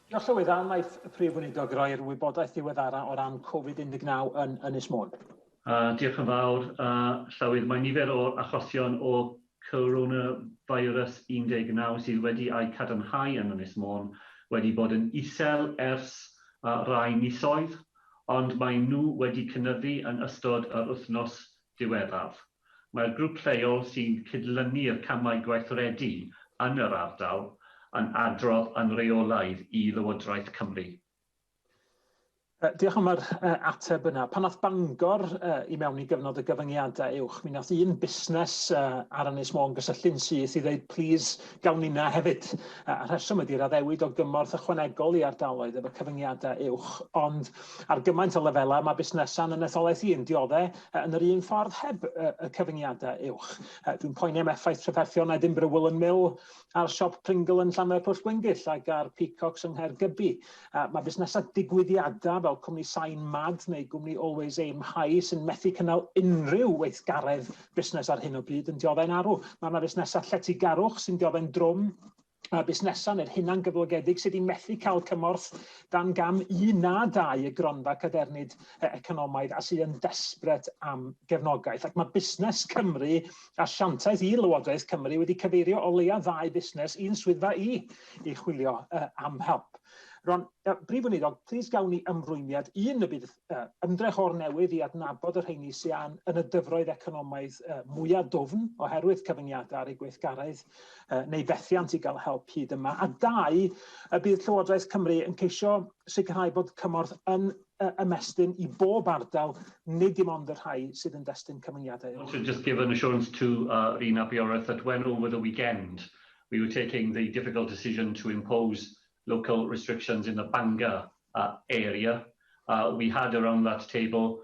Diolch Llywydd, a wnaeth y Prif Weinidog roi'r wybodaeth ddiweddara' o ran Covid 19 yn Ynys Môn? Diolch yn fawr, Llywydd. Mae nifer o achosion o Coronavirus 19 sydd wedi eu cadarnhau yn Ynys Môn wedi bod yn isel ers rai misoedd, ond maen nhw wedi cynyddu yn ystod yr wythnos diweddaf. Mae'r grŵp lleol sy'n cydlynu'r camau gweithredu yn yr ardal yn adrodd yn reolaidd i Lywodraeth Cymru. Diolch am yr ateb yna. Pan aeth Bangor i mewn i gyfnod o gyfyngiadau uwch, mi nath un busnes ar Ynys Môn gysylltu'n syth i ddeud plis gawn ninna hefyd. Y rheswm ydi'r addewid o gymorth ychwanegol i ardaloedd efo cyfyngiadau uwch. Ond ar gymaint o lefelau, mae busnesau'n yn etholaeth i, yn diodde', Yn yr un ffordd heb y, y cyfyngiadau uwch. Dwi'n poeni am effaith trafferthion Edinburgh Woolen Mill a'r siop Pringle yn Llanfair Pwll Gwyngyll ac ar Peacocks yng Nghaergybi. Mae busnesau digwyddiadau fel cwmni Sain Mad neu gwmni Always Aim High sy'n methu cynnal unrhyw weithgaredd busnes ar hyn o bryd yn dioddau'n arw. Mae yna fusnesau lletygarwch sy'n dioddau'n drwm a busnesau neu'r hunan gyflogedig sydd wedi methu cael cymorth dan gam un na dau y gronfa cadernid economaidd a sydd yn desbret am gefnogaeth. Ac mae Busnes Cymru asiantaeth i Lywodraeth Cymru wedi cyfeirio o leia ddau busnes i'n swyddfa i i chwilio uh, am help. Ron, uh, Brif Weinidog, plis gawn ni ymrwymiad un y bydd uh, ymdrech o'r newydd i adnabod yr rheini sy'n yn y dyfroedd economaidd uh, mwyaf dwfn oherwydd cyfyngiadau ar eu gweithgaredd neu fethiant i gael help hyd yma? A dau, y bydd Llywodraeth Cymru yn ceisio sicrhau bod cymorth yn ymestyn i bob ardal, nid dim ond y rhai sydd yn destun cyfyngiadau. Want to just give an assurance to uh, Rhun ap Iorwerth that when over the weekend we were taking the difficult decision to impose local restrictions in the Bangor uh, area, uh, we had around that table